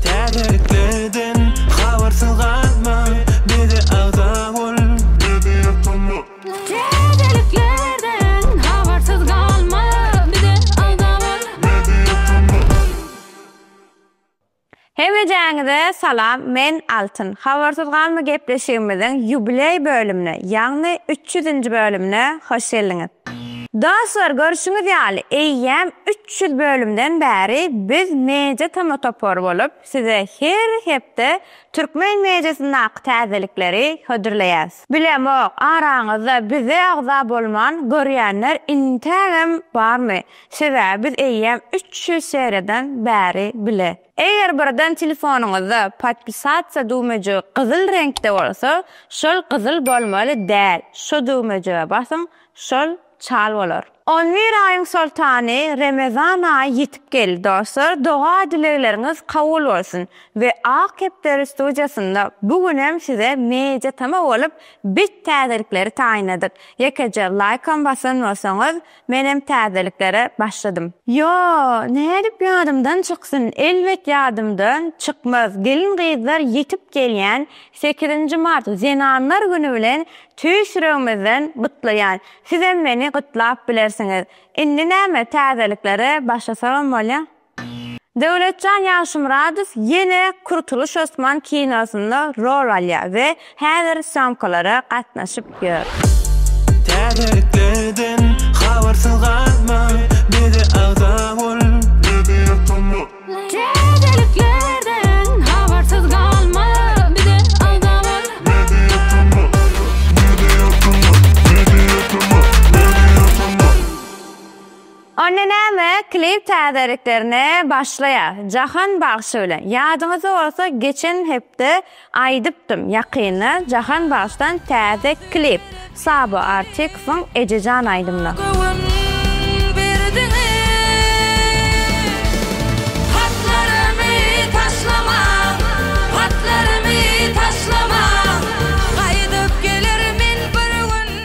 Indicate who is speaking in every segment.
Speaker 1: Täzeliklerden habarsyz galma, bize agza bol. Täzeliklerden habarsyz galma, bize agza bol. Hemmejaňize salam men Altyn. Habarsyz galma gepleşigimiziň ýubileý bölümine, ýagny üç ýüzünji bölümine hoş geldiňiz. Dostlar görşüňiz ýaly eýýäm üç Şu bölümden bäri biz Media Tm topary bolup size her hepde türkmen mediasyndaky täzelikleri hödürleýäs. Bilemok, araňyzda bize agza bolman görýänler intägem barmy, sebäbi biz eýýäm üç ýüz seriýadan bäri bile. Eger birden telefonyňyzda Podpisatsia düwmejigi gyzyl reňkde bolsa, şol gyzyl bolmaly däl, şo düwmejige basyň, şol. Çal bolar. On bir aýyň soltany Remezan aýy ýetip geldi dostlar doga dilegleriňiz kabul bolsun we Ak kepderi studiýasynda bu gün hem size media tama bolup bet täzelikleri taýynladyk ýekeje laýkam basan bolsaňyz men hem täzeliklere başladym. Ýo, nädip ýadymdan çyksyn, elbet ýadymdan çykmaz, gelin gyzlar ýetip gelýän Sekizinji mart Zenanlar güni bilen tüýs ýüregimizden gutlaýan. Sizem meni gutlap bilersiňiz. Indi näme täzeliklere başlasagam bolýa. Döwletjan Ýagşymyradow ýene Kurtuluş Osman kinosynda rol alýar we häzir sýomkalara gatnaşyp ýör. Täzeliklerden
Speaker 2: habarsyz galma, bize agza bol. Täzeliklerden
Speaker 3: habarsyz galma, bize agza bol! Media tuma Media tuma
Speaker 1: Media tuma Media tuma. Onda näme, klip täzeliklerine başlaýas. Jahan bagşy bilen. Ýadyňyzda bolsa geçen hepde Aýdypdym ýakynda Jahan Bagşdan täze klip Sabo Artikowyň Ejejan aýdymyna. Göwün berdiňiz Hatlarymy taşlamaň Hatlarymy taşlamaň Gaýdyp gelermen bir gün.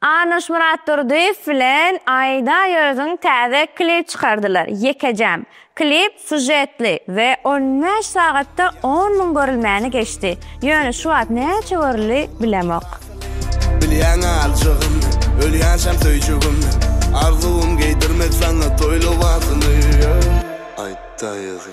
Speaker 4: Arnoş
Speaker 1: Myratdurdyýew bilen Aýda Ýöziň täze klip çykardylar. Ýekejäm. Klip sužetli we on bäş sagatda on müň görülmäni geçdi. Ýöne şu wagt näçe görüldi, bilemok. Bilýäň-ä
Speaker 4: aljagymny, ölýänçäm söýjegimni, Arzuwym geýdirmek saňa toý lybasyny, Aýda Ýözi.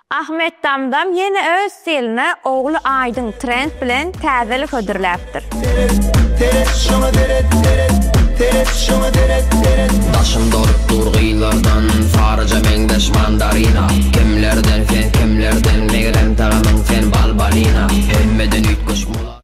Speaker 2: Ahmet
Speaker 1: Damdam ýene öz stiline ogly Aýdyň trend bilen täzelik hödürläpdir. Seret, seret, şoňa seret, seret, seret,
Speaker 5: şoňa seret, seret. Daşym dolup dur gyzlardan, saryja meňzeş mandarina. Kimlerden sen, kimlerden, megerem tagamyň sen bal-balina. Hemmeden üýtgeşik mulat.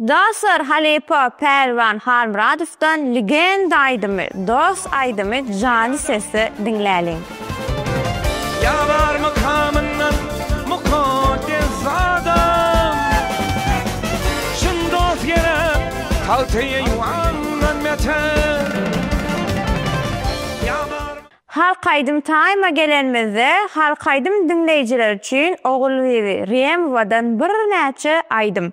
Speaker 1: Dostlar halypa Pälwan Halmyradowdan Legenda aýdymy, Dost aýdymy janly sesde diňläliň.
Speaker 2: Ýa bar mykamyndan mukaddes adam. Çyn dost gerek, halty eýwandan beter. Ýa
Speaker 1: bar. Halk aýdym taýma gelenimizde halk aýdym diňleýjiler üçin Ogulbibi Rýemowadan birnäçe aýdym.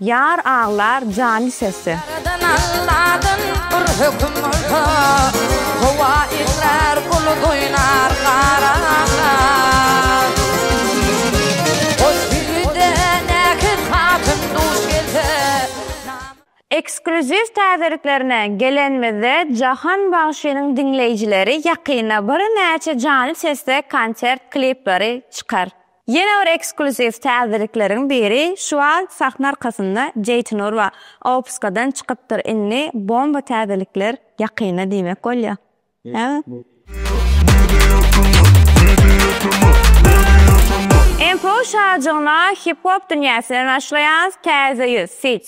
Speaker 1: Ýar aglar jany sesi. Ýaradan Alladan
Speaker 3: bir höküm bolsa, Howa eňrär, bulut oýnar, gar aglar. Hos biri-de näkiz hatyn duş gelse, namys. Ekskluziw
Speaker 1: täzeliklerine gelenimizde Jahan bagşynyň diňleýjileri ýakynda birnäçe jany sesde konsert klipleri çykar. Ýene bir ekskluziw täzelikleriň biri şu wagt sahna arkasynda Jeýtin Urba opuskadan çykypdyr indi bomba täzelikler ýakynda diýmek bolýar. Info şajygyna hip-hop dünýäsine naşlaýan täze ýüz, feat.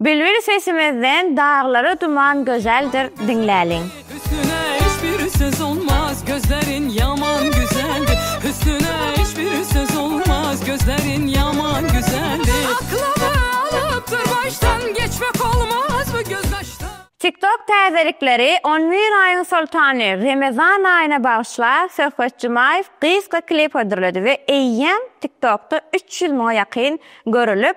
Speaker 1: Bilbil sesimizden daglara duman gözeldir diňläliň. Hüsnüne hiç
Speaker 6: bir söz olmaz gözlerin yaman güzeldir Hüsnüne hiç bir söz olmaz gözlerin yaman güzeldir Aklymı alyp dur başdan geçmek olmaz bu göz kaşdan. TikTok
Speaker 1: täzelikleri On bir aýyň soltany Remezan aýyna bagyşla Söhbet Jumaýew gysga klip hödürledi we eýýäm TikTokda üç ýüz müňe ýakyn görülip,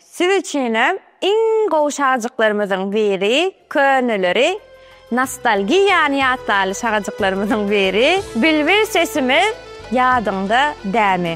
Speaker 1: Siz üçinem iň gowy şagajyklarymyzyň biri köneleri nostalgiýany ýatlaly şagajyklarymyzyň biri bilbil sesimiz ýadyňda dämi.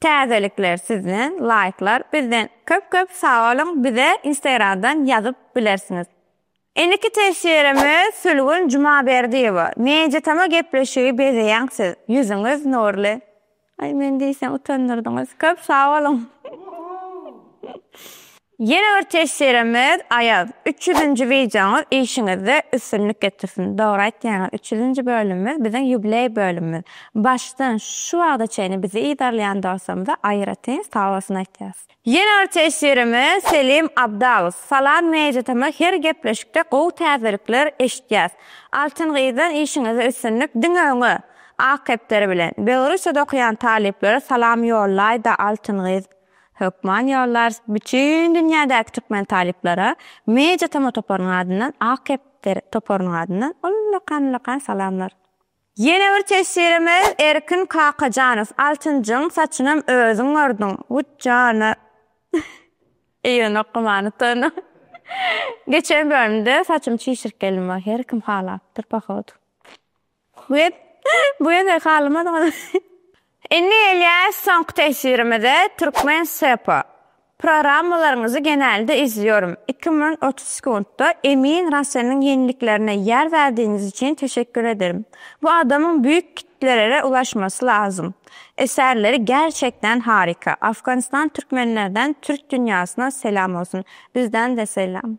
Speaker 1: Täzelikler sizden laýklar bizden köp köp sagboluň bize instagramdan ýazyp bilersiňiz. Indiki teswirimiz Sülgün Jumaberdiýewa Media Tama gepleşigi bezeýäň siz ýüzüňiz nurly Aý men diýseň utandyrdyňyz köp sagboluň. Ýene bir teşsirimiz Aýaz üç ýüzünji wideoňyz işiňizde üstünlik getirsin. Dogry aýtýaňyz üç ýüzünji bölümimiz biziň ýubileý bölümimiz. Başdan şu wagta çenli bizi yzarlaýan dostlarymyza aýratyn sag bolsun aýtýas. Ýene bir teşsirimiz Selim Abdalow Salam Media Tama her gepleşikde gowy täzelikler eşitýäs. Altyn gyzdan işiňizde üstünlik diňe öňe! Ak kepderi bilen. Belorussiýada okaýan talyplara salam ýollaýda Altyn gyz. Hökman ýollarys bütin dünýädäki türkmen talyplara Media Tama toparynyň adyndan Ak kepder toparynyň adyndan ullakan ullakan salamlar. Ýene bir teswirimiz Erkin Kakajanow Altynjyň saçynam özüň ördüň Wut jana Eýwenok gymany utandyň Geçen bölümde saçymy çişirip geldim Wah her kim halapdyr pohodu. Web, bu ýerde galmaz gal. Indi gelýäs soňky teswirimize, Türkmen SEPA. Programmalaryňyzy genelde izliyorum. Iki müň otuz sekuntda Emin Raselniň ýeniliklerine ýer berdigiňiz üçin teşekkür ederim. Bu adamyň büyük kitlelere ulaşmasy lazym. Eserleri gerçekden harika. Afganistan Türkmenlerden Türk dünýasyna selam olsun. Bizden-de selam.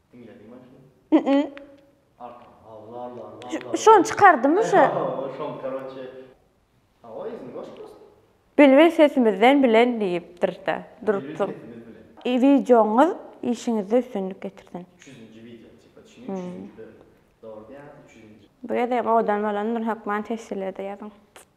Speaker 7: Bilbil
Speaker 1: sesimizden bilen diýipdirda Dursun. Wideoňyz işiňizde üstünlik getirsin.
Speaker 7: Bu gezegem owadan
Speaker 1: bolan Nur Hökman tesjilede ýazyň.